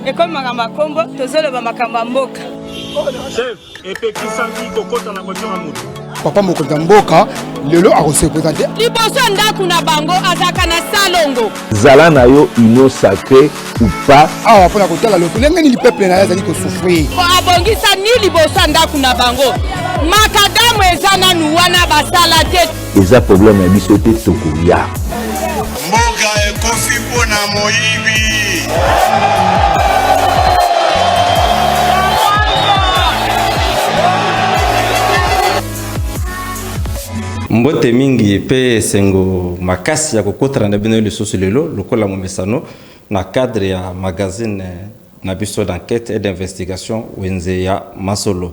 ekomi makambo ya nkombo tozoloba makambo ya mboka chef epekisaki kokota na voiture ya moto papa mokonzi ya mboka lelo akosekweza te liboso ya ndako na bango azalaka na salongo zala na yo union sacré ou pas awa mpo na kotala lolenge nini peuple na ye azali kosouffrir mpo abongisani liboso ya ndako na bango makadamu eza nanu wana basala te eza problème ya biso te tokoya mboka ekofi mpo na moyibi mbote mingi mpe esengo makasi ya kokotana na bino lisusu lelo lokola momesano Na cadre ya magazine na biso d'enquete et d'investigation Wenze ya masolo.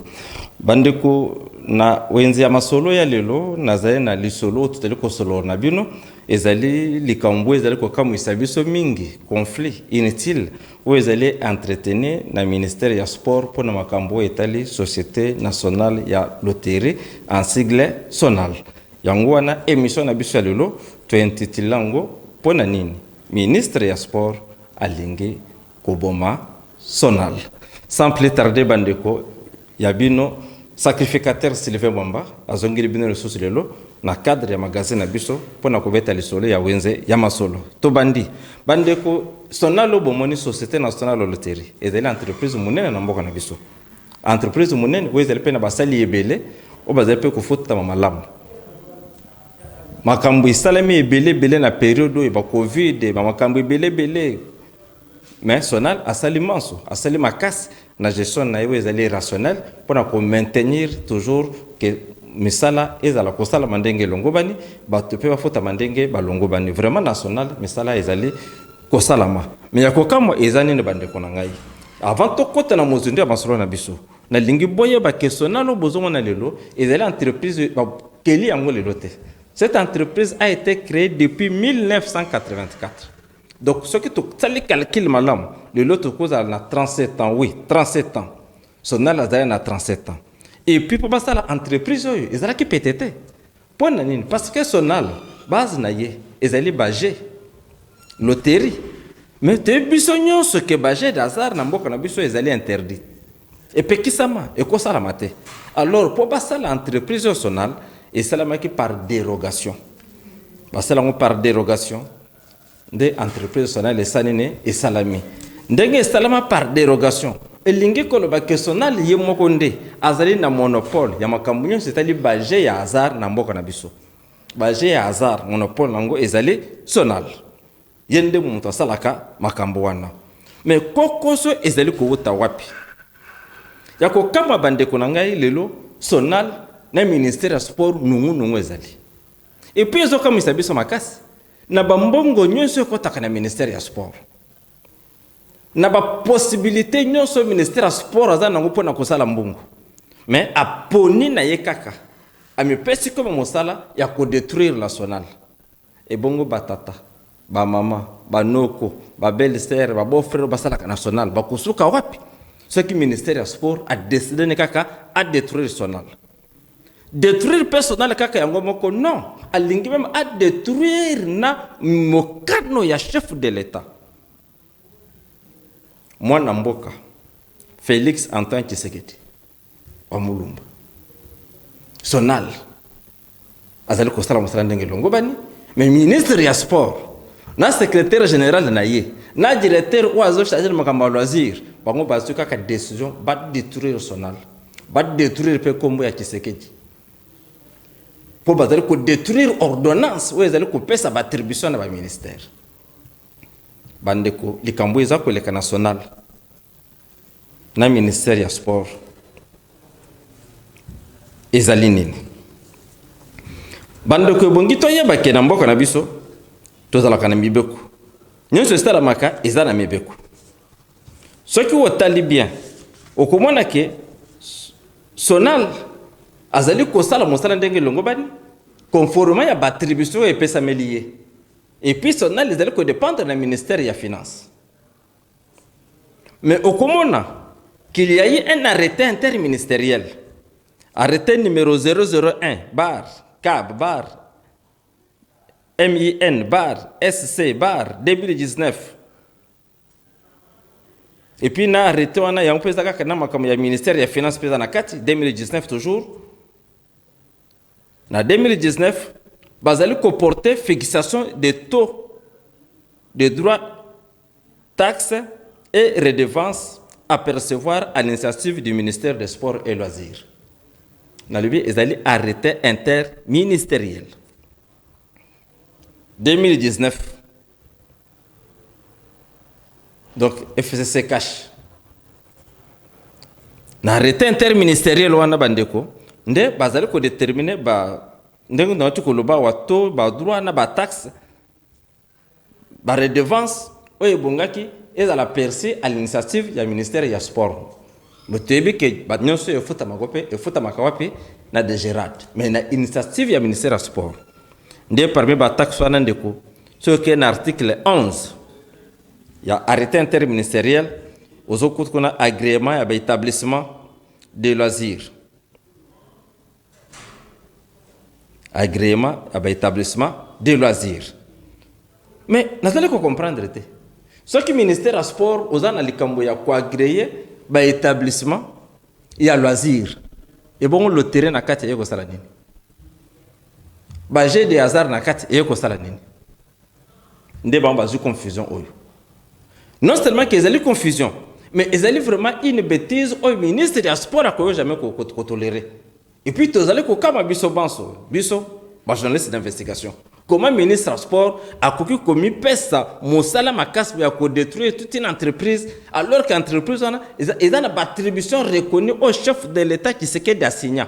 Ba ndeko, na Wenze ya masolo ya lelo nazali na lisolo oyo tozali kosolola na bino, ezali likambo oyo ezali kokamuisa biso mingi, conflit inutile oyo ezali entretenu na ministère ya sport mpo na makambo oyo etali Societe nationale ya loterie, en sigle Sonal. Yango wana emission na biso ya lelo to intitula yango Mpo na nini Ministre ya sport alingi koboma sonal sans plus tarder ba ndeko ya bino sacrificateur Sylvain Mwamba azongeli bino lisusu lelo na cadre ya magazine na biso pona kobeta lisolo ya wenze ya masolo tobandi ba ndeko sonal oyo bomoni societe nationale loterie ezali entreprise munene na mboka na biso entreprise munene oyo ezali pe na basali ebele oyo bazali pe kofutama malamu. Makambo esalemi ebele ebele na periode oyo ba covid ba makambo ebele ebele mais Sonal asali manso asali makasi na gestion na ye oyo ezali rationnel mpo na ko maintenir toujours que misala ezala kosalama ndenge elongobani bato mpe bafutama ndenge balongobani vraiment na Sonal misala ezali kosalama mais ya kokamwa eza nini bandeko na ngai avant tokota na mozindo ya masolo na biso Nalingi boyeba que Sonal oyo bozomona lelo ezali entreprise bakeli yango lelo te. Cette entreprise a ete creee depuis 1984. Donc soki tosali calcul malamu lelo tokozala na 37 ans, oui 37 ans. Sonal azali na 37 ans. Et puis mpo basala entreprise oyo ezalaki pete te. Pona nini? Parce que sonal base na ye ezali ba jeux, loterie. Mais toyebi biso nionso que ba jeux d'hasard na mboka na biso ezali interdit. Epekisama, ekosalama te. Alors po basala entreprise oyo sonal esalamaki par derogation. Basala yango par derogation. nde entreprise sonale esali ne esalami ndenge esalama par derogation elingi koloba ke sonale ye moko nde azali na monopole ya makambo nyonso etali baje ya hasard na mboka na biso baje ya hasard monopole na yango ezali sonale ye nde moto asalaka makambo wana me kokoso ezali kowuta wapi ya kokamba bandeko na ngai lelo sonale na ministère ya sport nungunungu ezali epuis ezokamwisa biso makasi na ba mbongo nyonso ekotaka na ministère ya sport na ba possibilité nyonso ministère ya sport aza nango mpo na kosala mbongo mais aponi na ye kaka amipesi koma mosala ya kodetruire national ebongo batata bamama banoko babelle sere babofrere basalaka national bakosuka wapi soki ministère ya sport adeside ne kaka adetruire national Detruire personnel kaka yango moko non, alingi meme a detruire na mokano ya chef de l'Etat. Mwana mboka Felix Antoine Tshisekedi wa Mulumba Sonal azali kosala mosala ndenge elongobani mais ministre ya sport na secrétaire général na ye na directeur oyo azocharge na makambo ya loisir bango bazwi kaka décision badétruire sonal badétruire mpe nkombo ya kisekedi mpo bazali kodétruire ordonnance oyo ezali kopesa baattribution na baministère bandeko likambo eza koleka na sonal na ministère ya sport ezali nini? Bandeko, ebongi toyeba ke na mboka na biso tozalaka na mibeko nyonso esalamaka eza na mibeko. Soki otali bien okomona ke Sonal azali kosala mosala ndenge elongobani conformément ya baattribution oyo epesameli ye, epuis Sonal ezali kodependre na ministère ya finance. Mais okomona qu'il y a eu un arrete interministeriel, arrete numero 001 bar cab bar MIN bar SC bar 2019 et puis na arrete wana yango mpe eza kaka na makambo ya ministère ya finance mpe eza na kati 2019 toujours na 2019 bazali koporte fixation de taux de droit Taxes et redevances à percevoir à l'initiative du ministère des Sports et Loisirs. Nalobi ezali arrete interministeriel 2019. Donc FCC cash. Na arrete interministeriel wana bandeko nde bazali ko déterminer ba ndenge na watu koloba wato ba droit na ba taxes Ba redevances oyo ebongaki ezala perçue à l'initiative ya ministère ya Sport. Mais toyebi que ba nionso oyo efutamako mpe efutamaka wapi? Na DGRAD. Mais na initiative ya ministère ya Sport. Nde parmi ba taxes wana ndeko, soki okei na article 11 ya arrete interministeriel, ozokuta kuna agreement ya ba etablissements de loisirs. agreement ya ba etablissement de loisir mais nazali ko comprendre te soki ministère ya sport oza na likambo ya koagreye ba etablissement ya loisir ebongo lotere na kati eye kosala nini ba jeu de hasard na kati eye kosala nini nde bango bazwi confusion oyo non seulement ke ezali confusion mais ezali vraiment une betise oyo ministre ya sport akoyo jamais kotolere et puis tozali kokama biso banso biso bajournaliste d'investigation comment ministre ya sport akoki komipesa mosala makasi ya kodetruire toute une entreprise alors que entreprise wana eza na baattribution reconnue au chef de l'état kisekedi asigna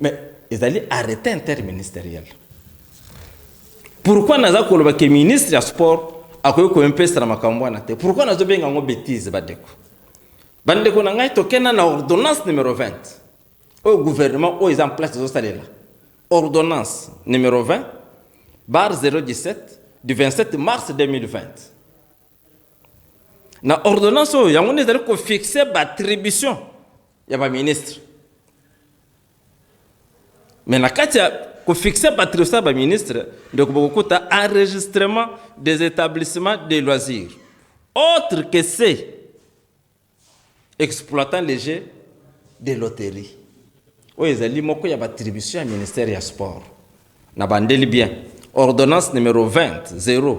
Mais ezali arrete interministeriel. Pourquoi naza koloba ke ministre ya sport akoki koempesela makambo wana te? Pourquoi nazobenga yango betise badeko? Bandeko na ngai tokenda na ordonnance numero 20 oyo gouvernement oyo eza en place ezosalela ordonnance numero 20 bar 017 du 27 mars 2020 na ordonnance oyo yango nde ezali kofixe baattribution ya ba ministre mais na kati ya kofixe batriosa ya baministre ndeko bokokuta enregistrement des établissements de loisirs autre que ce exploitant les jeux de loterie oyo ezali moko ya batribution ya ministère ya sport na bandeli bien ordonnance numero 20 0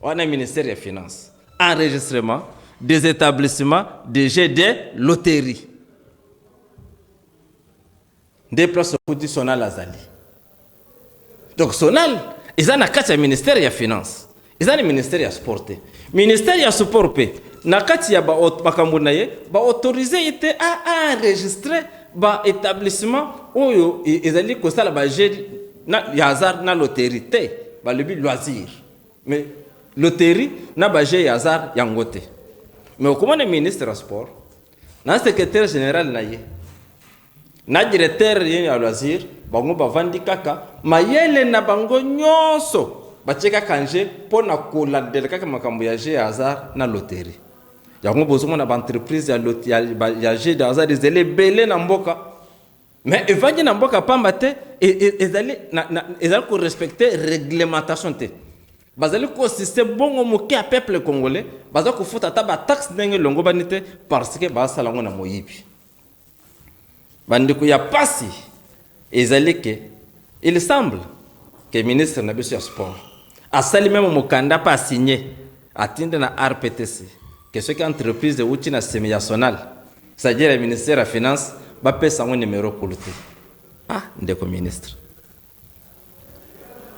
Wana ministère ya finance. Enregistrement des etablissements de jeu de loterie. Nde place okuti Sonal azali. Donc Sonal eza na kati ya ministère ya finance. Eza na ministère ya sport te. Ministère ya sport pe na kati ya makambo na ye ba autoriser ye te a enregistrer ba etablissements oyo ezali kosala ba jeux na ya hasard na loterie te balobi loisir mais loterie na baje ya hasard yango te mais okomona ministre ya sport na secrétaire général na ye na directeur ye ya loisir bango bavandi kaka mayele na bango nyonso batie kaka nje mpo na kolandela kaka makambo ya je ya hasard na loterie yango bozomona baentreprise ya, ya, ya je de hasard ezali ebele na mboka mais evandi na mboka pamba te e, e, ezali ezali korespecte réglementation te bazali kosiste bongo moke ya peuple congolais baza kofuta ata bataxe ndenge elongobani te parce que basala yango na moyibi bandeko ya pasi ezali ke il semble ke ministre na biso ya sport asali meme mokanda mpe asigne Atindi na RPTC que soki entreprise ewuti na semi-yational, c'est à dire ya ministère ya finance, bapesa yango numero kulutu. Ah ndeko ministre.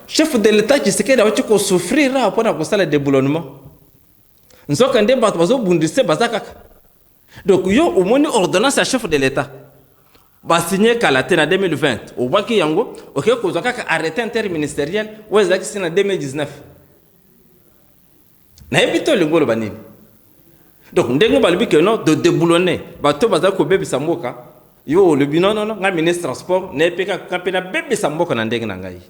Chef de l'Etat Tshisekedi awuti ko souffrir awa mpo na kosala deboulonnement. Nzoka nde bato bazobundisa ye baza kaka. Donc yo omoni ordonnance ya chef de l'Etat. ba signe kala te na 2020 obwaki yango oke kozwa kaka arrete interministeriel oyo ezalaki si na 2019 nayebi te olingi oloba nini donc ndenge balobi ke non de deboulonner bato bazali kobebisa mboka yo olobi nonono ngai ministre ya sport naye mpe kaka mpe nabebisa mboka na ndenge na ngai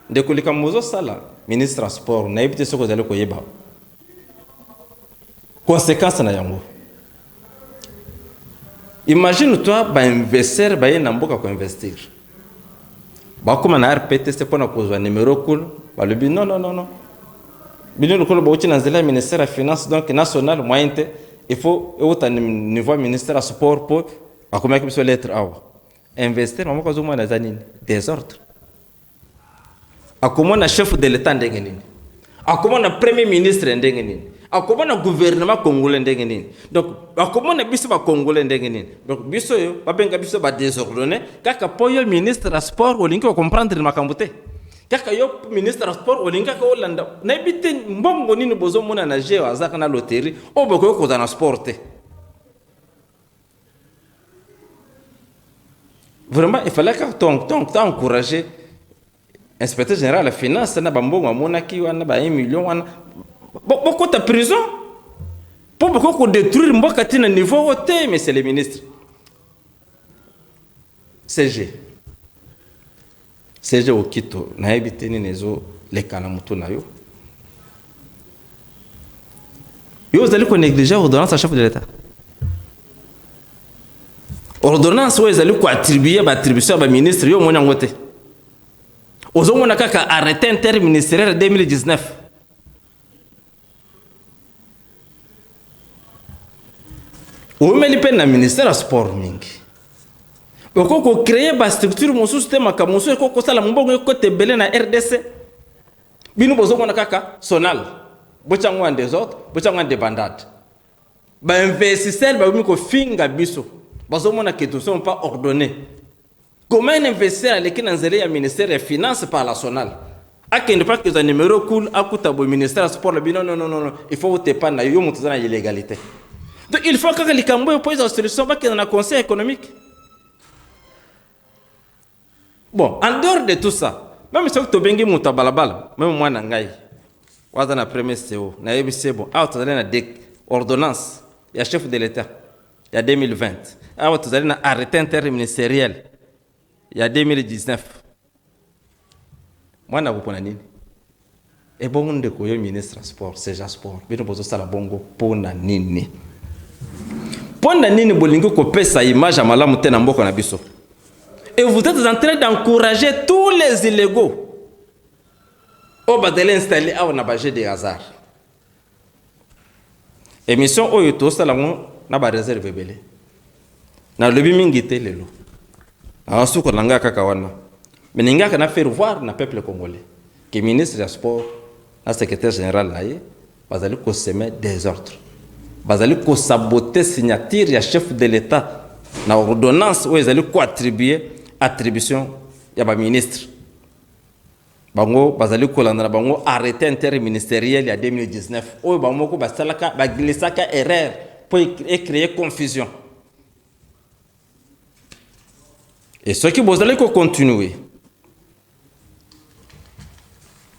Ndeko likambo ozo sala ministre ya sport nayebi te soki ozali koyeba consequence na yango imagine toi ba investir baye na mboka ko investir bakoma na rptc mpona kozwa numero cool balobi non non non non bino lokola bauti na nzela ya ministère ya finance donc national moyen te il faut euta niveau ya ministère ya sport mpo akomaki biso lettre awa Investir mama kozo mwana za nini? Desordre. Akomona chef de l'etat ndenge nini? Akomona premier ministre ndenge nini? Akomona gouvernement congolais ndenge nini? Donc akomona biso ba congolais ndenge nini? Donc biso yo babenga biso ba désordonnés kaka po yo ministre ya sport olingi ko comprendre makambo te. Kaka yo ministre ya sport olingi kaka olanda nayebi te mbongo nini bozomona na jeu azaka na loterie oyo bokoki kozala na sport te. Vraiment, il fallait que ton ton ton encourager inspecteur général ya finance na bambongo amonaki wana ba 1 million wana Bo- bokota prison mpo bokoki kodétruire mboka ti na niveau oyo te monsieur le ministre cg Serge Okito nayebi te nini ezo leka na moto na yo yo ozali ko negliger ordonnance ya chef de l'etat ordonnance oyo ezali koattribue baattribution ya baministre yo omoni yango te ozomona kaka arrete interministeriel 2019 owumeli mpe na ministère ya sport mingi okoki kocreye bastructure mosusu te makambo mosusu ekoki kosala mobongo ekota ebele na rdc bino bozomona kaka sonal botya yango ya desordre botya yango ya debandade bainvestisseur bakomi kofinga biso bazomona que tosomo mpa ordonne Comment un investisseur aleki na nzela ya ministère ya finance par la sonale akende mpe akozwa numero cool akuta boye ministère ya sport lobi non non non non il faut otepane na yo yo moto oza na illégalité donc il faut kaka likambo oyo mpo ezwa solution bakenda na conseil économique bon en dehors de tout ça meme soki tobengi moto ya balabala meme mwana na ngai oyo aza na premier co nayebisi ye bon awa tozali na ordonnance ya chef de l'état ya 2020 awa tozali na arrete interministeriel ya 2019 mwana akopona nini ebongo eh, ndeko yo ministre sport seja sport bino bozosala bongo mpona nini mpona nini bolingi kopesa image ya malamu te na mboka na biso et vous êtes en train d'encourager tous les illégaux oyo bazali installe awa na baje de hasard Emission oyo tosala ngo na ba reserve ebele. Na lobi mingi te lelo. Na suko na nga kaka wana. Mais ningaka na faire voir na peuple congolais que ministre ya sport na secrétaire général na ye bazali ko semer desordre. Bazali ko saboter signature ya chef de l'etat na ordonnance oyo ezali ko attribuer attribution ya ba ministres. Bango bazali kolanda na bango arrete interministeriel ya 2019 oyo bango moko basalaka ba glissaka erreur mpo e creer confusion. Et soki bozali ko continuer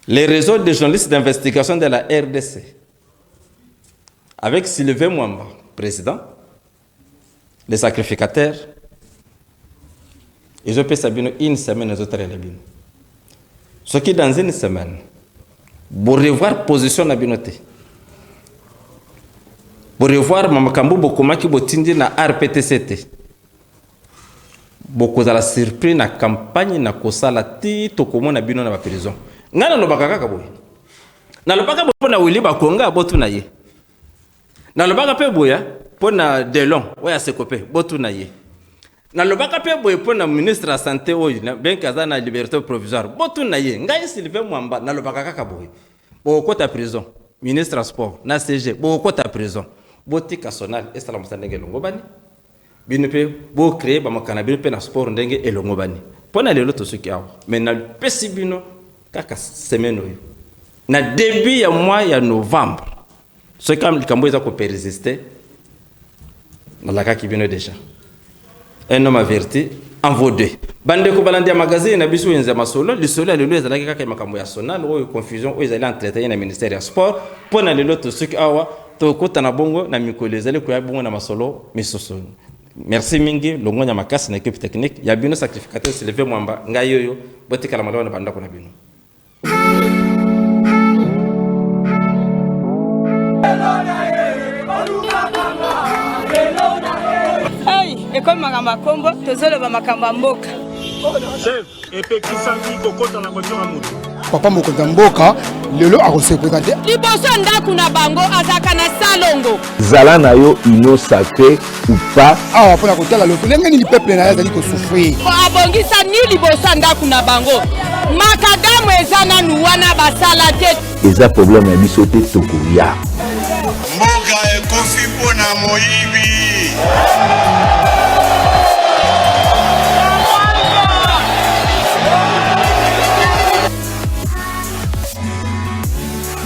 les réseaux de journalistes d'investigation de la RDC avec Sylvain Mwamba, président, le sacrificateur ezopesa bino une semaine ezotalela bino soki dans une semaine borevoir position na bino te borevoir makambo bokomaki botindi na rptc te bokozala surpris na campagne na kosala ti tokomona bino na baprison ngai nalobaka kaka boye nalobaka boye mpo na wili bakonga botuna ye nalobaka mpe boye mpo na delon oyo aseko mpe botuna ye nalobaka mpe boye mpo na ministre ya sante oyo benke aza na liberté provisoire botuna ye ngai silive mwamba nalobaka kaka boye bokokota prison ministre ya sport na cg bokokota prison botika sonal esala mosala ndenge elongobani Bino pe bo cree ba makala na bino pe na sport ndenge elongobani. Pona lelo tosuki awa mais na pesi bino kaka semaine oyo na debut ya mois ya novembre soki kama likambo eza ko persister nalakaki bino deja un homme averti en vaut deux bandeko balandi ya magazine na biso wenze ya masolo lisolo ya lelo ezalaki kaka makambo ya sonal oyo confusion oyo ezali entreteni na ministère ya sport mpo na lelo tosuki awa Tokota na bongo na mikolo ezali koya bongo na masolo misusu. Merci mingi longonya makasi na equipe technique ya bino sacrificateur Sylvain Mwamba ngai yoyo botikala malamu na bandako na bino. ekomi makambo ya nkombo tozoloba makambo ya mboka epekisaki kokota na voiture ya moto papa mokonzi ya mboka lelo akosi represente liboso ya ndako na bango azalaka na salongo zala na yo union sacré ou pas awa mpo na kotala loko ndenge nini peuple na ye azali kosouffrir abongisa ni liboso ya ndako na bango makadamu eza nanu wana basala te eza problème ya biso te tokoya mboka ekofi mpo na moyibi